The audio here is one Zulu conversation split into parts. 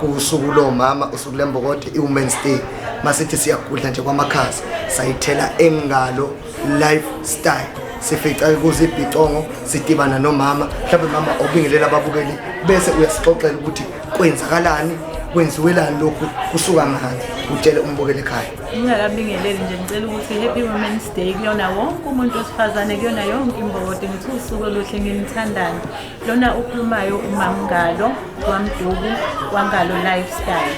kuwusuku lomama usuku lembokode i-women's day masithi siyagudla nje kwamakhaza sayithela engalo lifestyle sifica kuze ibhicongo sidibana nomama mhlawumbe mama obingelela ababukeli bese uyasixoxela ukuthi kwenzakalani kwenziwelani lokhu kusuka ngani utshele umbukeli ekhaya ngingakabingeleli nje ngicela ukuthi happy women's day kuyona wonke umuntu wesifazane kuyona yonke imbokode ngithi usuku oluhle nginithandane Lona ukhulumayo uMamngalo kwaMduku kwaNgalo Lifestyle.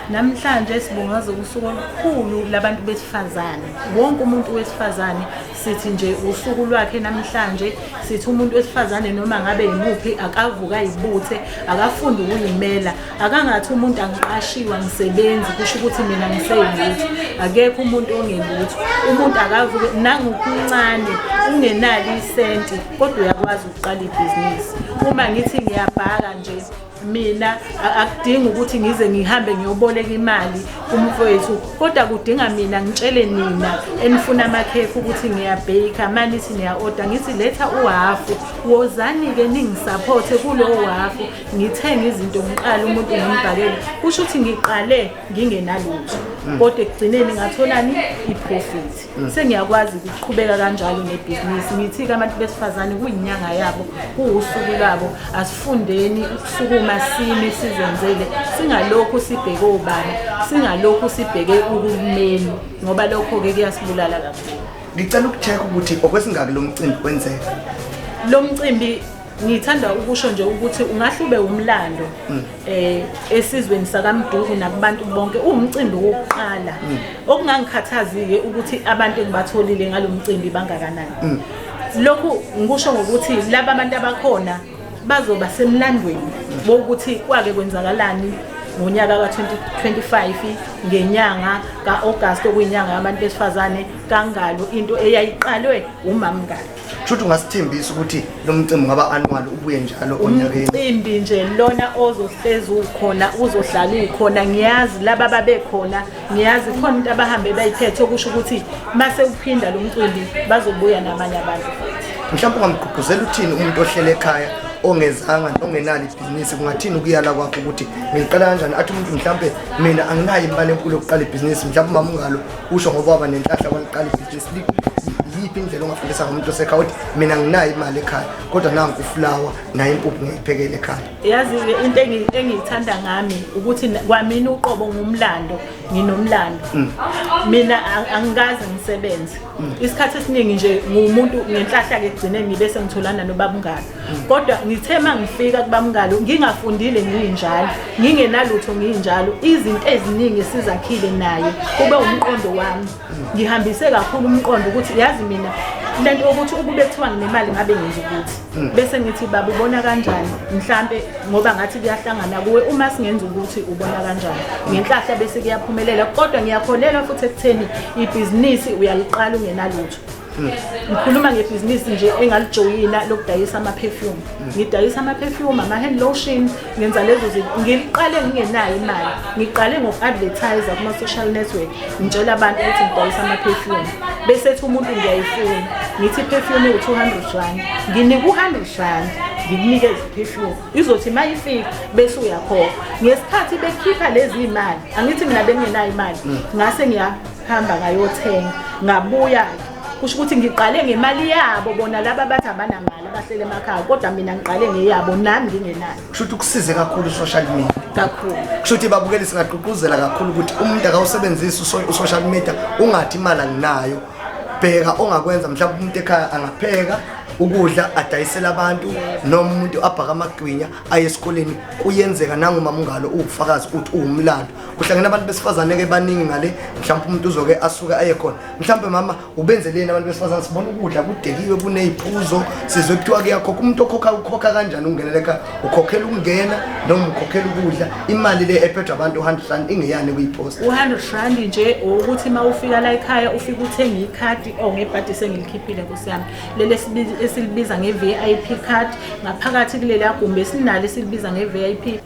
Namhlanje sibungaza usuku olukhulu labantu besifazane. Wonke umuntu wesifazane sithi nje usuku lwakhe namhlanje sithi umuntu wesifazane noma ngabe yimuphi akavuka ayibuthe akafunde ukuyimela akangathi umuntu angiqashiwa ngisebenzi kusho ukuthi mina ngiseyilutho akekho umuntu ongelutho umuntu akavuke nangokuncane ungenali isenti kodwa uyakwazi qala ibhizinisi uma ngithi ngiyabhaka nje mina akudingi ukuthi ngize ngihambe ngiyoboleka imali kumfowethu kodwa kudinga mina ngitshele nina enifuna amakhekhe ukuthi ngiyabheyikha mani ithi niya-oda ngithi letha uhafu wozani-ke ningisaphothe kulowo hafu ngithenge izinto ngiqale umuntu ngimbhakele kusho ukuthi ngiqale ngingenalutho mm. kodwa ekugcineni ngatholani iprofit sengiyakwazi ukuqhubeka kanjalo nebhizinisi ngithi-ke abantu besifazane kuyinyanga yabo kuwusuku lwabo asifundeni ukusukuma sime sizenzele singalokhu sibheke obani singalokhu sibheke uhulumeni ngoba lokho-ke kuyasibulala kakhulu ngicela ukucheck ukuthi okwesingaki lo mcimbi kwenzeka lo mcimbi Ngithanda ukusho nje ukuthi ungahle ube umlando mm. eh esizweni sakaMduku nakubantu bonke uwumcimbi wokuqala mm. okungangikhathazike ukuthi abantu engibatholile ngalomcimbi bangakanani mm. lokhu ngikusho ngokuthi laba abantu abakhona bazoba semlandweni bokuthi kwake kwenzakalani ngonyaka ka-2025 ngenyanga ka-agasti okuyinyanga yabantu besifazane kangalo into eyayiqalwe umamngalo Shuthi ungasithembisa ukuthi lo mcimbi ngaba annual ubuye njalo onyakeni. Umcimbi nje lona ozohlezi ukhona uzohlala ukhona ngiyazi laba babekhona ngiyazi khona into abahambe bayiphethe okusho ukuthi mase uphinda lo mcimbi bazobuya namanye abantu. Mhlawumbe ungamgqugquzela uthini umuntu ohlele ekhaya ongezanga ongenalo ibhizinisi kungathini ukuyala kwakho ukuthi ngiqala kanjani athi umuntu mhlawumbe mina anginayo imali enkulu yokuqala ibhizinisi mhlawumbe umama ungalo usho ngoba waba nenhlahla kwaliqala ibhizinisi yiphi indlela ongafundisa ngomuntu osekhaya ukuthi mina nginayo imali ekhaya kodwa nangu ufulawa naye impuphu ngiyiphekele ekhaya yazi into engiyithanda ngami ukuthi kwamina uqobo ngumlando nginomlando mm. mina angikaze ngisebenze mm. isikhathi esiningi nje ngumuntu ngenhlahla-ke kugcine ngibe sengitholana nobabungane kodwa ngithe uma ngifika kubamngalo ngingafundile ngiyinjalo ngingenalutho ngiyinjalo izinto eziningi esizakhile naye kube umqondo wami ngihambise kakhulu umqondo ukuthi yazi mina lento ukuthi ukube kuthiwa nginemali ngabe ngenza ukuthi hmm. bese ngithi baba ubona kanjani mhlambe ngoba ngathi kuyahlangana kuwe uma singenza ukuthi ubona kanjani ngenhlahla bese kuyaphumelela kodwa ngiyakholelwa futhi ekutheni ibhizinisi uyaliqala ungenalutho ngikhuluma ngebhizinisi nje engalijoyina lokudayisa ama-perfume ngidayisa ama-perfume ama-hand lotion ngenza lezo zinto ngiliqale ngingenayo imali ngiqale ngoku-advertise kuma-social network ngitshela abantu ukuthi ngidayisa ama-perfume bese ethi umuntu ngiyayifuna ngithi i-perfume iwu-two hundred rand nginika u-hundred rand ngikunikeze iphefyumu izothi uma ifika bese uyakhokha ngesikhathi bekhipha lezi imali angithi mina bengenayo imali mm. ngase ngiya hamba ngayothenga ngabuya kusho ukuthi ngiqale ngemali yabo bona laba bathi abanamali abahlele emakhaya kodwa mina ngiqale ngeyabo nami ngingenayo kusho ukuthi kusize kakhulu i-social media kakhulu kusho ukuthi babukeli singagqugquzela kakhulu ukuthi umuntu akawusebenzisi u-social media ungathi imali anginayo bheka ongakwenza mhlawumbe umuntu ekhaya angapheka ukudla adayisele abantu noma umuntu abhaka amagwinya aye esikoleni kuyenzeka nangumama ungalo uwufakazi ukuthi uwumlando kuhlangene abantu besifazane ke baningi ngale mhlawumbe umuntu uzoke asuke aye khona mhlawumbe mama ubenzeleni abantu besifazane sibona ukudla kudekiwe kuneyiphuzo sizwe kuthiwa kuyakhokha umuntu okhokha ukhokha kanjani ungenele ka ukhokhela ukungena noma ukhokhela ukudla imali le ephethwe abantu 100 rand ingeyani kuyipost u100 rand nje ukuthi uma ufika la ekhaya ufike uthenge ikhadi or oh, ngebhadi sengilikhiphile kusiyami lele esilibiza nge-vip card ngaphakathi kuleli agumbi esinalo esilibiza nge-vip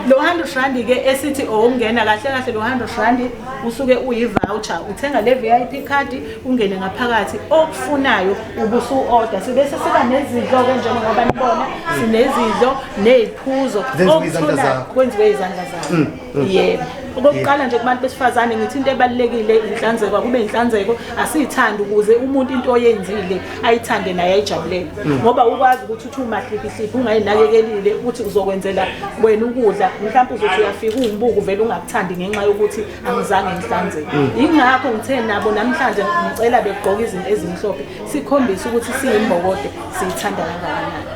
lo 100 rand ke esithi owokungena kahle kahle lo 100 rand usuke uyi-voucher uthenga le VIP card ungene ngaphakathi okufunayo ubusu order sibese siba nezidlo ke njengoba nibona sinezidlo neziphuzo okuthola kwenziwe izandla zakho mm, mm. yebo okokuqala nje kubantu besifazane ngithi into ebalekile inhlanzeko akube inhlanzeko asiyithandi ukuze umuntu into oyenzile ayithande naye ayijabulele mm. ngoba ukwazi ukuthi Two mahliphi siphi ungayinakekelile ukuthi uzokwenzela wena ukudla mhlawumbe uzothi uyafika ungibuku vele ungakuthandi ngenxa yokuthi angizange ngihlanzeke mm. yingakho ngithe nabo namhlanje ngicela begqoke izinto ezimhlophe sikhombise ukuthi siyimbokodo siyithanda kangakanani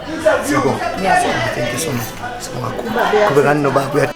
ngiyabonga thank you so much sibonga kakhulu qhubekani nobaba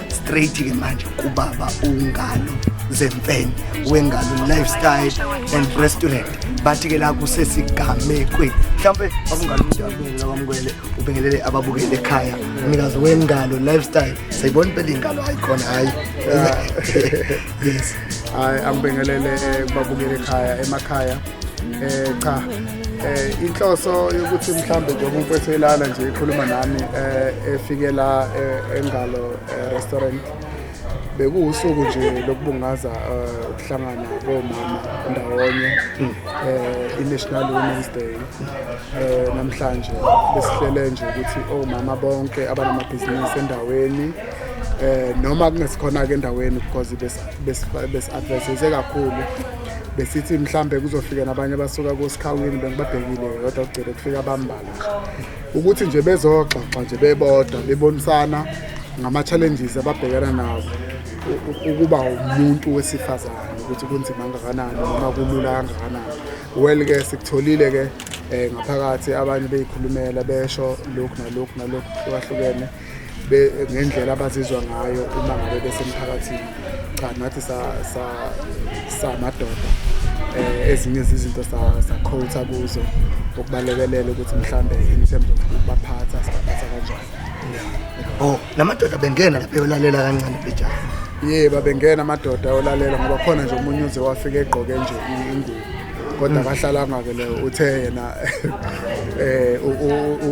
straight ke manje kubaba ungalo zemfene wengalo lifestyle and restaurant bathi ke la kusesigamekweni mhlawumbe babungalo umuntu abingelela kwamukele ubingelele ababukele ekhaya umnikazi wengalo lifestyle sayibona impela ingalo ayikhona hayi yes hayi angibingelele eh, kubabukele ekhaya emakhaya eh cha eh inhloso yokuthi mhlambe nje umuntu ethelana nje ikhuluma nami eh efikela eh, engalo eh, restaurant bekuwusuku nje lokubungaza eh, ukuhlangana komama ndawonye eh iNational Women's Day eh namhlanje besihlele nje ukuthi omama bonke abanamabhizinisi endaweni eh noma kungesikhona ke endaweni because bes bes advertise kakhulu besithi mhlambe kuzofika nabanye abasuka kosikhawini bengibabhekile kodwa kugcine kufika abambala ukuthi nje bezoxoxa nje bebodwa bebonisana ngama-challenges ababhekana nawo ukuba umuntu wesifazane ukuthi kunzima kangakanani noma kulula kangakanani well-ke sikutholile-ke um ngaphakathi abanye beyikhulumela besho lokhu nalokhu nalokhu hlukahlukene ngendlela abazizwa ngayo uma ngabe besemphakathini cha nathi samadoda um ezinye zizinto sakhotha kuzo ukubalekelela ukuthi mhlawumbe in terms of ukubaphatha sibaphatha kanjani o oh, la madoda bengena lapha eyolalela kancane bejaa ye babengena amadoda ayolalela ngoba khona nje omunye uze wafike egqoke nje ingubo kodwa akahlala ngake leyo uthe yena eh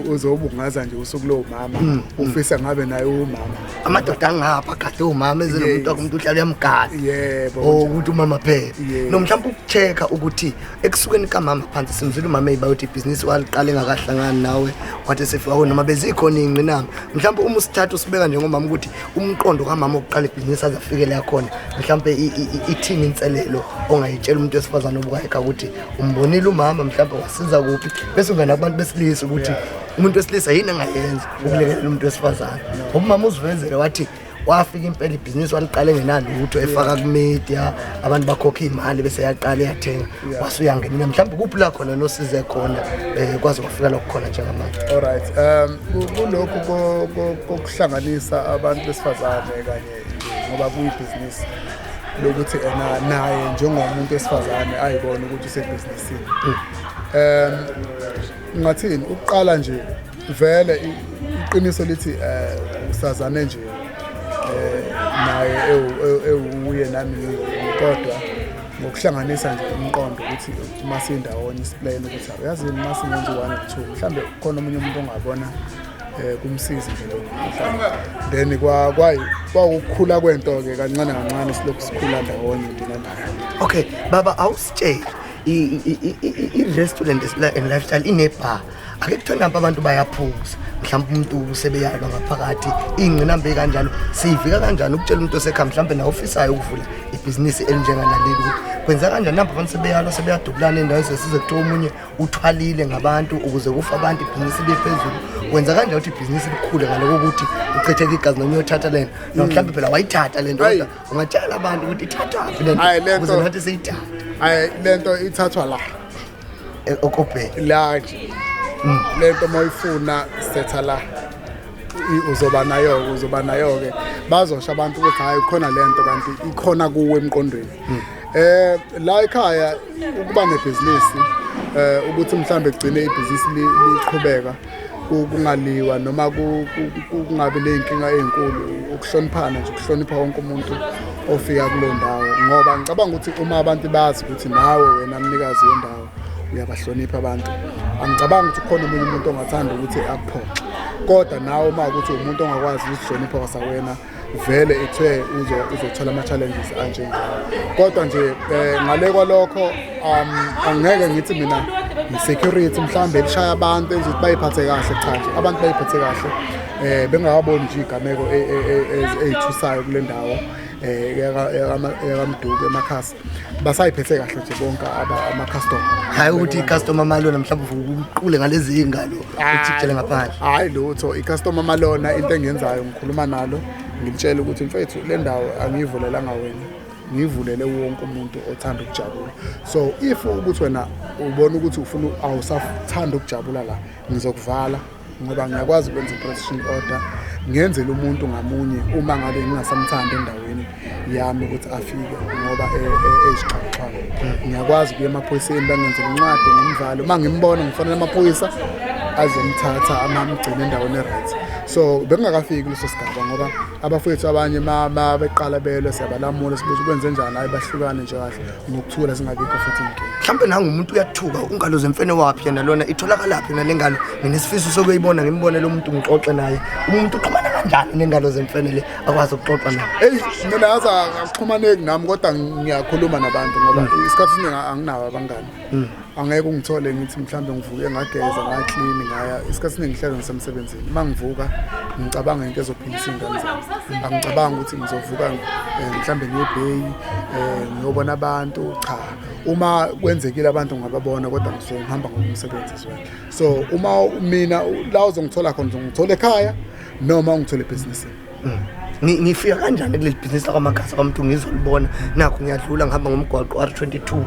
uzobungaza nje usuku lowo mama mm, mm. ufisa ngabe naye umama amadoda angapha kade umama ezinomuntu akumuntu uhlala uyamgala yebo oh, ukuthi umama phela no mhlawumbe ukucheka ukuthi ekusukeni kamama phansi simzwile umama eyibayothi ibhizinisi waliqala engakahlangani nawe wathi sefika oh, noma bezikhona iy'ngqinamba mhlawumbe uma usithatha usibeka njengomama ukuthi umqondo kamama wokuqala ibhizinisi aze afikele yakhona mhlawumbe ithini inselelo ongayitshela umuntu wesifazane obukayeka ukuthi umbonile umama mhlawumbe wasiza kuphi bese ungena kubantu besilisa ukuthi umuntu wesilisa yini angayenza ukulekelela umuntu wesifazane ngoba umama uzivezele wathi wafika impela ibhizinisi waliqale ngenalutho efaka kumedia abantu bakhokha iy'mali bese yaqala yathenga wase uyangenela mhlawumbe kuphi la khona nosize khona um kwaze kwafika lokhu khona njengamanje olright um kulokhu kokuhlanganisa abantu besifazane kanye ngoba kuyibhizinisi lokuthi ena naye njengomuntu wesifazane ayibone ukuthi usebhizinisini um Ngathini ukuqala nje vele iqiniso lithi eh usazane nje eh naye ewuye nami kodwa ngokuhlanganisa nje umqondo ukuthi uma sindawonye isiplayini ukuthi uyazini uma singenzi one two mhlambe khona omunye umuntu ongabona eh kumsizi nje lokho then kwa kwayi kwakukhula kwento ke kancane kancane silokhu sikhula ndawonye mina naye okay baba awusitsheli i-restaurant and lifestyle inebar ake kuthiwe nampa abantu bayaphuza mhlawumbe umuntu usebeyalwa ngaphakathi iy'ngqinambe kanjalo siyivika kanjani ukutshela umuntu osekha mhlawumbe nawo ofisayo ukuvula ibhizinisi elinjenganaleli ukuthi kwenza kanjani nampa abantu sebeyalwa sebeyadubulana endaweni sesize kuthiwa omunye uthwalile ngabantu ukuze kufa abantu ibhizinisi liye phezulu kwenza kanjani ukuthi ibhizinisi likhule ngaloko ukuthi uchitheke igazi noma uyothatha lento nomhlawumbe phela wayithatha lento ungatshela abantu ukuthi ithathwaphi le Ayi, le nto- ukuze nathi siyithathe hayi le nto ithathwa la Eh, okobheki la nje le nto uma uyifuna setha la I- uzoba nayo-ke uzoba nayo-ke bazosho abantu ukuthi hhayi khona le nto kanti ikhona kuwe emqondweni eh la ekhaya ukuba nebhizinisi eh ukuthi mhlambe kugcine ibhizinisi li- liqhubeka kungaliwa noma kungabi ney'nkinga ey'nkulu ukuhloniphana nje ukuhlonipha wonke umuntu ofika kulo ndawo ngoba ngicabanga ukuthi uma abantu bazi ukuthi nawe wena mnikazi wendawo uyabahlonipha abantu angicabanga ukuthi ukhona omunye umuntu ongathanda ukuthi akuphoxe kodwa nawe uma ukuthi umuntu ongakwazi ukuzihlonipha kwasawena vele ithe uzothola ama-challenges anjengawo kodwa nje um ngale kwalokho um angeke ngithi mina ngi-security mhlawumbe elishaya abantu enza ukuthi bayiphathe kahle cha nje abantu bayiphathe kahle um bengakaboni nje iy'gameko e, e, e, ey'thusayo kule ndawo um yakamduku emakhasi basayiphethe kahle nje bonke ama-customer hhayi ukuthi i-customer malona mhlawumbe uvuke uqule ngalezi iy'ngalo ujikele ngaphandle hhayi lutho i-customer malona into engiyenzayo ngikhuluma nalo ngilitshela ukuthi mfethu le ndawo angiyivulelanga wena ngivulele wonke umuntu othanda ukujabula so if ukuthi wena ubona ukuthi ufuna awusathanda ukujabula la ngizokuvala ngoba ngiyakwazi ukwenza i-protection order ngenzele umuntu ngamunye uma ngabe ngingasamthandi endaweni yami ukuthi afike ngoba ezixhaxhayo e, e, e, ngiyakwazi kuya emaphoyiseni bangenzela incwadi ngimvale uma ngimbona ngifanele amaphoyisa azomthatha amamgcine endaweni e-right so bekungakafiki leso sigaba ngoba abafowethu abanye beqala belwe siyabalamula sibuza ukwenze njani hayi bahlukane nje kahle nokuthula zingabikho futhi inkinga mhlawumbe nangumuntu uyathuka ungalo zemfene waphi yena lona itholakalaphi yona lengalo mina isifiso sokuyibona ngimbone lo muntu ngixoxe naye umuntu uxhumana kanjani nengalo zemfene le akwazi ukuxoxa naye eyi mina yazi akuxhumaneki nami kodwa ngiyakhuluma nabantu ngoba isikhathi esiningi anginawo abangani angeke ungithole ngithi mhlawumbe ngivuke ngageza ngaklini ngaya isikhathi siningi ngihlale ngisemsebenzini uma ngivuka ngicabanga into ezophilisa iy'ngane zami angicabanga ukuthi ngizovuka eh, mhlawumbe ngiyebheyi um eh, ngiyobona abantu cha uma kwenzekile abantu ngababona kodwa ngisuke ngihamba ngokumsebenzi zweni so uma mina la uzongithola khona uzongithola ekhaya noma ungithola ebhizinisini ngifika kanjani kuleli bhizinisi lakwamagasa kwamuntu ngizolibona nakho ngiyadlula ngihamba ngomgwaqo r 22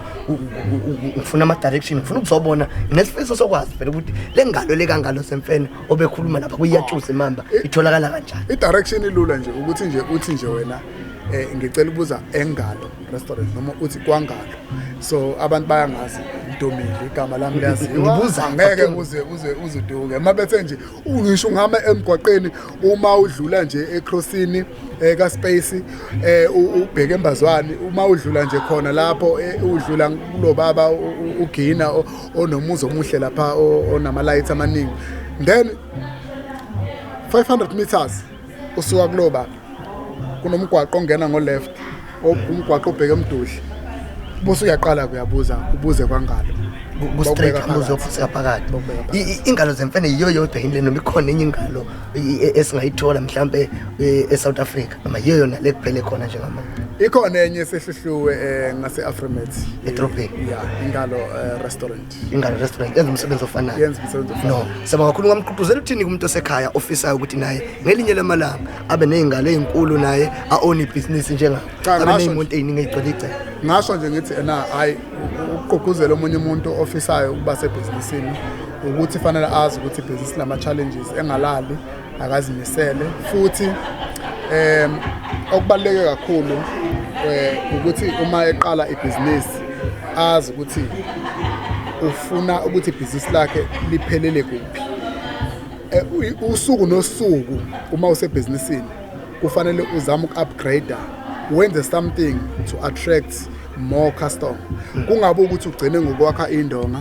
ngifuna ama-direction ngifuna ukuzobona nesifiso sokwazi vele ukuthi le ngalo le kangalo semfene obekhuluma lapha kuyiyatshuza imamba itholakala kanjani i-direction ilula nje ukuthi nje uthi nje wena um ngicela ukubuza engalo restaurant noma uthi kwangalo so abantu bayangazi ntomile igama lami liyaziwa ngeke uze uze uziduke uma bethe nje ungisho ngihamba emgwaqeni uma udlula nje ecrossini eh, ka space eh, ubheke embazwani uma udlula nje khona lapho eh, udlula kulobaba ugina onomuzi omuhle lapha onama lights amaningi then 500 meters usuka kulobaba kunomgwaqo ongena ngo left umgwaqo obheke emdudla bose uyaqala kuyabuza ubuze kwangalo kustraight ambuzo futhi ngaphakathi ingalo zemfene yiyo yodwa yini lena ikhona enye ingalo e- esingayithola mhlambe e- eSouth Africa noma yiyo yona lekuphele khona njengamanje ikhona enye esehluhluwe eh, ngase Afrimet edrobheni yeah ingalo eh, restaurant ingane restaurant yenza umsebenzi ofanayo yenza umsebenzi ofanayo no saba kakhulu ngamqhuquzela uthini kumuntu osekhaya ofisayo ukuthi naye ngelinye lamalanga abe nezingane ezinkulu naye a own business njenga abe nezimonto eziningi ezigcwele igceke ngasho nje ngithi ena hayi ukuqhuquzela omunye umuntu ofisayo ukuba sebusinessini ukuthi fanele azi ukuthi ibhizinisi lama challenges engalali akazimisele futhi um okubaluleke kakhulu um ukuthi uma eqala ibhizinisi azi ukuthi ufuna ukuthi ibhizinisi lakhe liphelele kuphi eh, usuku nosuku uma usebhizinisini kufanele uzame uku-upgrader wenze something to attract more customer kungabe ukuthi ugcine ngokwakha indonga